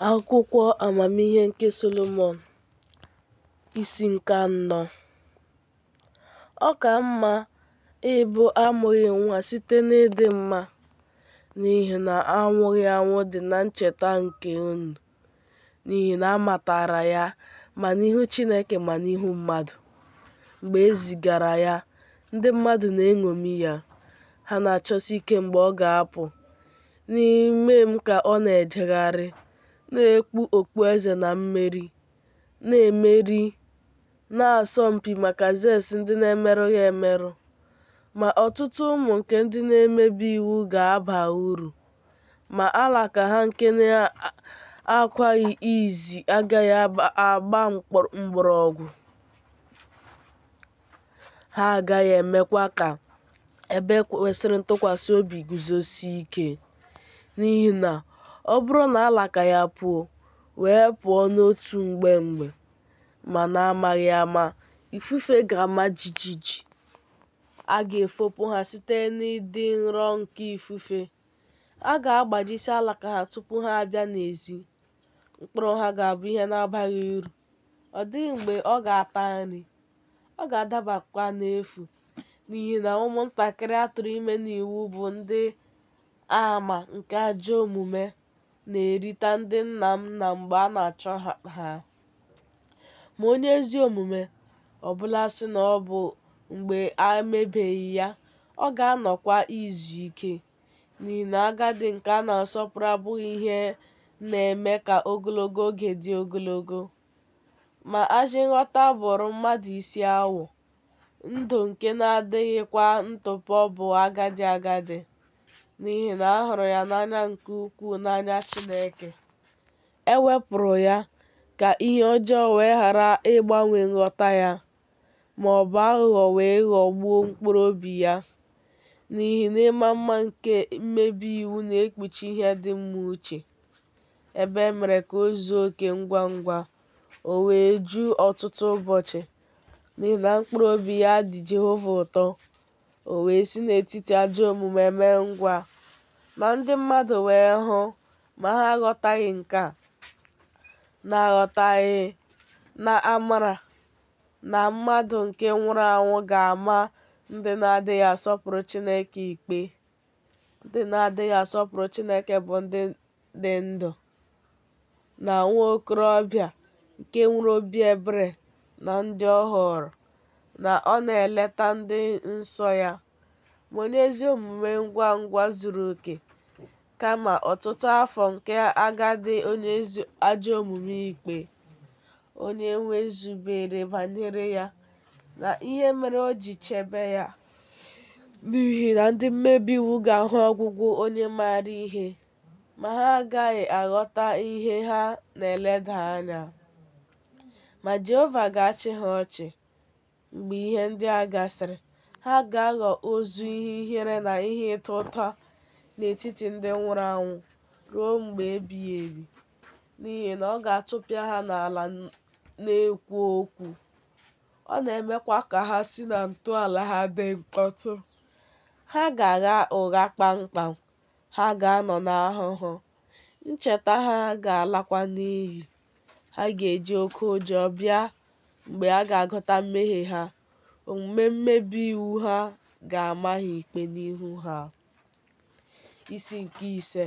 Akwụkwọ Amamihe nke Solomọn isi nke anọ Ọ ka mma ịbụ amụghị nwa site n'ịdị mma n'ihi na anwụghị anwụ dị na ncheta nke unu n'ihi na a matara ya ma n'ihu Chineke ma n'ihu mmadụ mgbe e zigara ya ndị mmadụ na-eṅomi ya ha na-achọsi ike mgbe ọ ga-apụ N'ime m ka ọ na-ejegharị, na-ekpu okpueze na mmeri, na-emeri n'asọmpi maka zes ndị na-emerụghị emerụ. Ma ọtụtụ ụmụ nke ndị na-emebi iwu ga-aba uru, ma alaka ha nke na-akwaghị izi agaghị agba mgbọrọgwụ. ha agaghị emekwa ka ebe kwesịrị ntụkwasị obi guzosie ike. N'ihi na ọ bụrụ na alaka ya puo, wee pụọ n'otu mgbe mgbe, ma n'amaghị ama, ifufe ga-ama jijiji, a ga-efopụ ha site n'ịdị nro nke ifufe, a ga-agbajisi alaka ha tupu ha abịa n'ezi, mkpụrụ ha ga-abụ ihe na-abaghị uru. ọ dịghị mgbe ọ ga-ata nri ọ ga-adabakwa n'efu n'ihi na ụmụntakịrị a tụrụ ime n'iwu bụ ndị ama nke ajọ omume na-erita ndị nna nna mgbe a na-achọ ha. ma onye ezi omume ọ bụla sị na ọ bụ mgbe a mebeghị ya ọ ga-anọkwa izu ike n'ihi na agadi nke a na-asọpụrụ abụghị ihe na-eme ka ogologo oge dị ogologo. Ma ajị nghọta bụrụ mmadụ isi awọ, ndụ nke na-adịghịkwa ntụpọ bụ agadi agadi, n'ihi na a hụrụ ya n'anya nke ukwuu n'anya Chineke. E wepụrụ ya ka ihe ọjọọ wee ghara ịgbanwe nghọta ya ma ọ bụ aghụghọ wee ghọgbuo mkpụrụ obi ya, n'ihi na ịma mma nke mmebi iwu na-ekpuchi ihe dị mma uche, ebe e mere ka o zuo oke ngwa ngwa, o wee ju ọtụtụ ụbọchị, n'ihi na mkpụrụ obi ya dị Jehova ụtọ, o wee si n'etiti ajọ omume mee ngwa. Ma ndị mmadụ wee hụ, ma ha aghọtaghị nke a, na-aghọtaghị na amara na mmadụ nke nwụrụ anwụ ga-ama ndị na-adịghị asọpụrụ Chineke ikpe. Ndị na-adịghị asọpụrụ Chineke bụ ndị dị ndụ na nwa okorobịa nke nwere obi ebere na ndị ọ họọrọ, na ọ na-eleta ndị nsọ ya. ma onye ezi omume ngwa ngwa zuru oke kama ọtụtụ afọ nke agadi onye ajọ omume ikpe onye nwe zubere banyere ya na ihe mere o ji chebe ya n'ihi na ndị mmebi iwu ga-ahụ ọgwụgwụ onye maara ihe ma ha agaghị aghọta ihe ha na-eleda anya ma Jehova ga-achị ha ọchị Mgbe ihe ndị a gasịrị, ha ga-aghọ ozu ihe ihere na ihe ịta ụta n'etiti ndị nwụrụ anwụ ruo mgbe ebighị ebi, n'ihi na ọ ga-atụpịa ha n'ala na-ekwu okwu. Ọ na-emekwa ka ha si na ntọala ha dị mkpọtụ. Ha ga-agha ụgha kpamkpam, ha ga-anọ n'ahụhụ, ncheta ha ga-alakwa n'iyi. Ha ga-eji oke ụjọ bịa mgbe a ga-agụta mmehie ha, omume mmebi iwu ha ga-ama ha ikpe n'ihu ha. Isi nke ise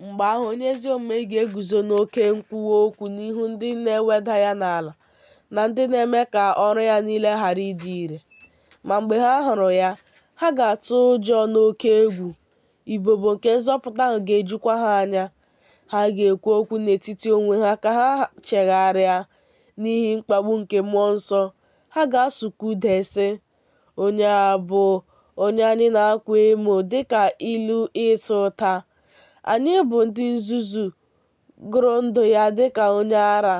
mgbe ahụ onye ezi omume ga-eguzo n'oke nkwuwa okwu n'ihu ndị na-eweda ya n'ala na ndị na-eme ka ọrụ ya niile ghara ịdị ire. Ma mgbe ha hụrụ ya, ha ga-atụ ụjọ n'oke egwu, ibobo nke nzọpụta ahụ ga-ejukwa ha anya, ha ga-ekwu okwu n'etiti onwe ha ka ha chegharịa n'ihi mkpagbu nke mmụọ nsọ, ha ga-asụkwa ude sị, Onye a bụ onye anyị na-akwa emo dị ka ilu ịta ụta. Anyị bụ ndị nzuzu gụrụ ndụ ya dị ka onye ara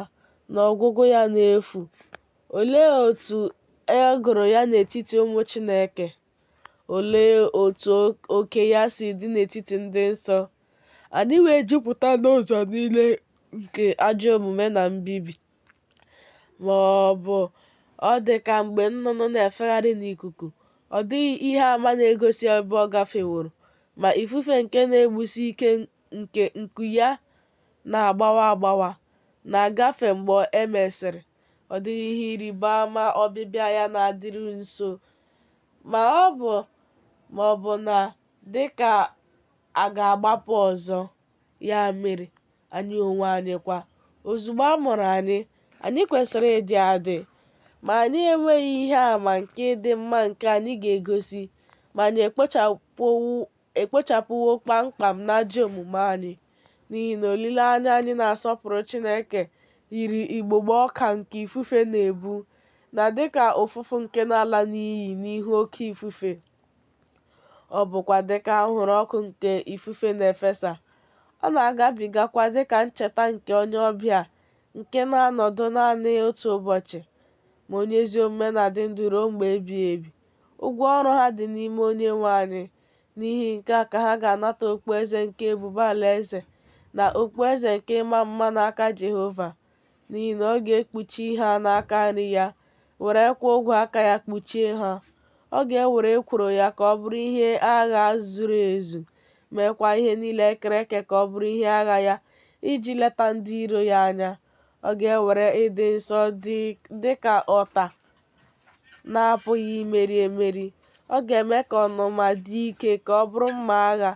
na ọgwụgwụ ya n'efu. Olee otu e gụrụ ya n'etiti ụmụ Chineke? Olee otu oke ya si dị n'etiti ndị nsọ? Anyị wee jupụta n'ụzọ niile nke ajọ omume na mbibi. Ma ọ bụ ọ dị ka mgbe nnụnụ na-efegharị n'ikuku, ọ dịghị ihe ama na-egosi ebe ọ gafeworo, ma ifufe nke na-egbusi ike nke nku ya na-agbawa agbawa na-agafe mgbe e mesịrị. Ọ dịghị ihe ịrịba ama ọbịbịa ya na-adịru nso, ma ọ bụ ma ọ bụ na dị ka a ga-agbapụ ọzọ. Ya mere, anyị onwe anyị kwa, ozugbo a mụrụ anyị, anyị kwesịrị ịdị adị. Ma anyị enweghị ihe ama nke ịdị mma nke anyị ga-egosi ma anyị ekpochapụwo ekpochapụwo kpam kpam n'ajọ omume anyị, n'ihi na olileanya anyị na-asọpụrụ Chineke yiri igbogbo ọka nke ifufe na-ebu, na dị ka ụfụfụ nke na-ala n'iyi n'ihu oke ifufe, ọ bụkwa dị ka anwụrụ ọkụ nke ifufe na-efesa, ọ na-agabigakwa dị ka ncheta nke onye ọbịa nke na-anọdụ nanị otu ụbọchị, ma onye ezi omume na-adị ndụ ruo mgbe ebighị ebi. Ụgwọ ọrụ ha dị n'ime Onyenwe anyị. N'ihi nke a ka ha ga-anata okpueze nke ebube alaeze na okpueze nke ịma mma n'aka Jehova, n'ihi na ọ ga-ekpuchi ha n'aka nri ya, werekwa ogwe aka ya kpuchie ha. Ọ ga-ewere ekworo ya ka ọ bụrụ ihe agha zuru ezu, meekwa ihe niile e kere eke ka ọ bụrụ ihe agha ya, iji leta ndị iro ya anya. Ọ ga-ewere ịdị nsọ dị ka ọta na-apụghị imeri emeri. Ọ ga-eme ka ọnụma dị ike ka ọ bụrụ mma agha.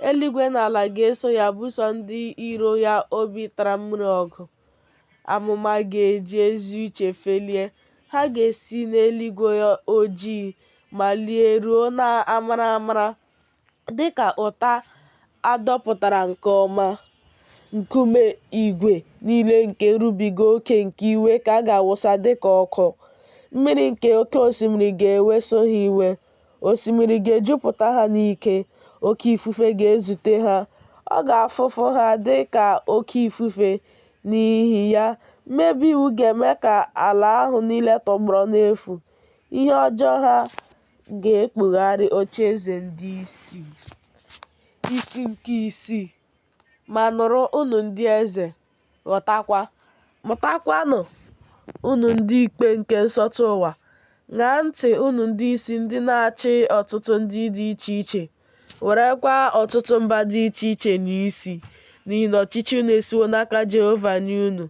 Eluigwe na ala ga-eso ya buso ndị iro ya obi tara mmiri ọgụ. Amụma ga-eji ezi uche felie. Ha ga-esi n'eluigwe ojii malie ruo n'amara amara dịka ụta a dọpụtara nke ọma, nkume igwe niile nke nrubiga oke nke iwe ka a ga-awụsa dịka ọkụ, mmiri nke oke osimiri ga-eweso ha iwe, osimiri ga-ejupụta ha n'ike, oke ifufe ga-ezute ha, ọ ga-afụfu ha dịka oke ifufe, n'ihi ya, mmebi iwu ga-eme ka ala ahụ niile tọgbọrọ n'efu, ihe ọjọọ ha ga-ekpugharị ocheeze ndị isi, isi nke isii. Ma nụrụ unu ndị eze, ghọtakwa, mụtakwanụ unu ndị ikpe nke nsọtụ ụwa. Ṅaa ntị unu ndị isi ndị na-achị ọtụtụ ndị dị iche iche, Werekwa ọtụtụ mba dị iche iche nyaa isi, n'ihi na ọchịchị unu esiwo n'aka Jehova nye unu.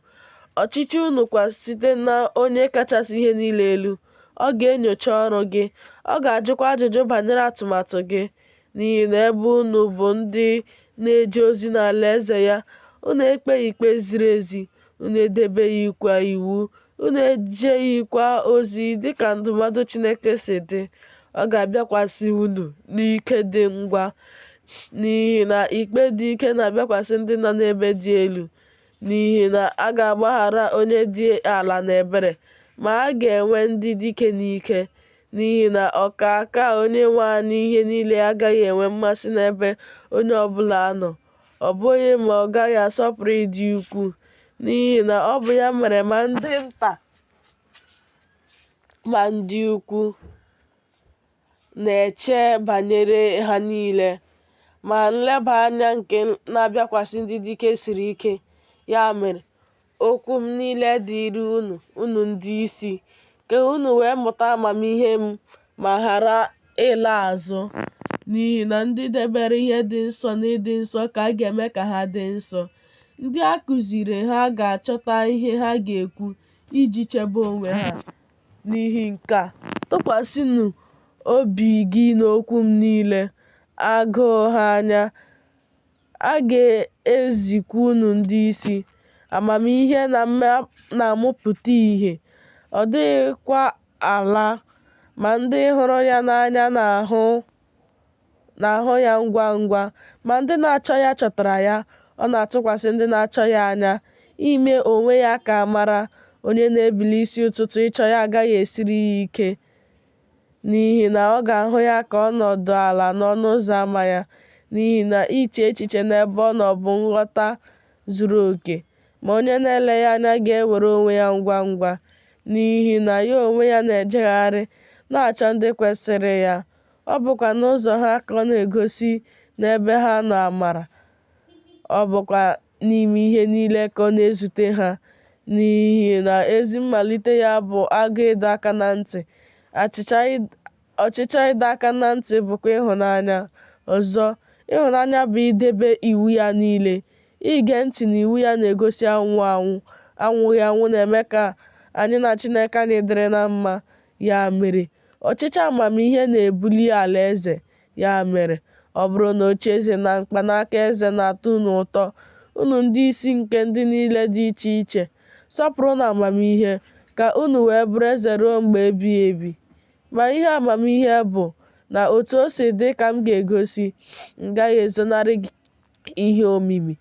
Ọchịchị unu kwa site na Onye kachasị ihe niile elu. Ọ ga-enyocha ọrụ gị, ọ ga-ajụkwa ajụjụ banyere atụmatụ gị, n'ihi na ebe unu bụ ndị na-eje ozi n'alaeze ya, unu ekpeghị ikpe ziri ezi, unu edebeghịkwa iwu Unu ejeghịkwa ozi dị ka ndụmọdụ Chineke si dị, ọ ga-abịakwasị unu n'ike dị ngwa, n'ihi na ikpe dị ike na-abịakwasị ndị nọ n'ebe dị elu, n'ihi na a ga-agbaghara onye dị ala n'ebere, ma a ga-enwe ndị dike n'ike, n'ihi na ọkaakaa Onyenwe anyị ihe niile agaghị enwe mmasị n'ebe onye ọ bụla nọ. ọ bụghị ma ọ gaghị asọpụrụ ịdị ukwu n'ihi na ọ bụ ya mere ma ndị nta ma ndị ukwu na-eche banyere ha niile ma nleba anya nke na-abịakwasị ndị dike siri ike ya mere Okwu m niile dịịrị unu, unu ndị isi, ka unu wee mụta amamihe m ma ghara ịla azụ. N'ihi na ndị debere ihe dị nsọ n'ịdị nsọ ka a ga-eme ka ha dị nsọ. Ndị a kụziiri ha ga-achọta ihe ha ga-ekwu iji chebe onwe ha. N'ihi nke a, tụkwasịnụ obi gị n'okwu m niile, agụụ ha anya, A ga-ezikwa unu ndị isi amamihe na-amụpụta ìhè, ọ dịghịkwa ala ma ndị hụrụ ya n'anya na-ahụ ya ngwa ngwa, ma ndị na-achọ ya chọtara ya. Ọ na-atụkwasị ndị na-achọ ya anya, ime onwe ya ka a mara. Onye na-ebili isi ụtụtụ ịchọ ya agaghị esiri ya ike N'ihi na ọ ga-ahụ ya ka ọ nọdụ ala n'ọnụ ụzọ ama ya, n'ihi na iche echiche n'ebe ọ nọ bụ nghọta zuru oke. Ma onye na-ele ya anya ga-ewere onwe ya ngwa ngwa, n'ihi na ya onwe ya na-ejegharị, na-achọ ndị kwesịrị ya, ọ bụkwa n'ụzọ ha ka ọ na-egosi n'ebe ha nọ amara. ọ bụkwa n'ime ihe niile ka ọ na-ezute ha, n'ihi na ezi mmalite ya bụ agụụ ịdọ aka na ntị, ọchịchọ ịdọ aka na ntị bụkwa ịhụnanya. Ọzọ, ịhụnanya bụ idebe iwu ya niile. Ige ntị n'iwu ya na-egosi anwụghị anwụ. Anwụghị anwụ na-eme ka anyị na Chineke anyị dịrị na mma. Ya mere, ọchịchọ amamihe na-ebuli alaeze Ya mere, ọ bụrụ na ocheeze na mkpanaka eze na-atọ unu ụtọ, unu ndị isi nke ndị niile dị iche iche, sọpụrụnụ amamihe, ka unu wee bụrụ eze ruo mgbe ebighị ebi. Ma ihe amamihe bụ, na otu o si dị ka m ga-egosi, m gaghị ezonarị gị ihe omimi,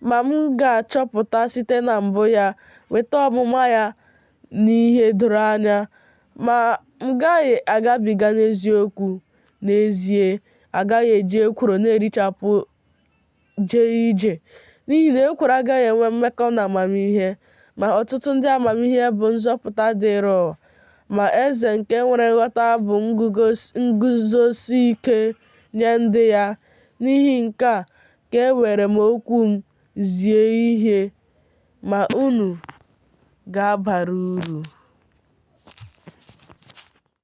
ma m ga-achọpụta site na mbụ ya, weta ọmụma ya n'ihe doro anya, ma m gaghị agabiga n'eziokwu. N'ezie, a gaghị eji ekworo na-erichapụ jee ije, n'ihi na ekworo agaghị enwe mmekọ na amamihe. Ma ọtụtụ ndị amamihe bụ nzọpụta dịịrị ụwa, ma eze nke nwere nghọta bụ nguzosi ike nye ndị ya. N'ihi nke a ka ewere m okwu m zie ihe, ma unu ga-abara uru.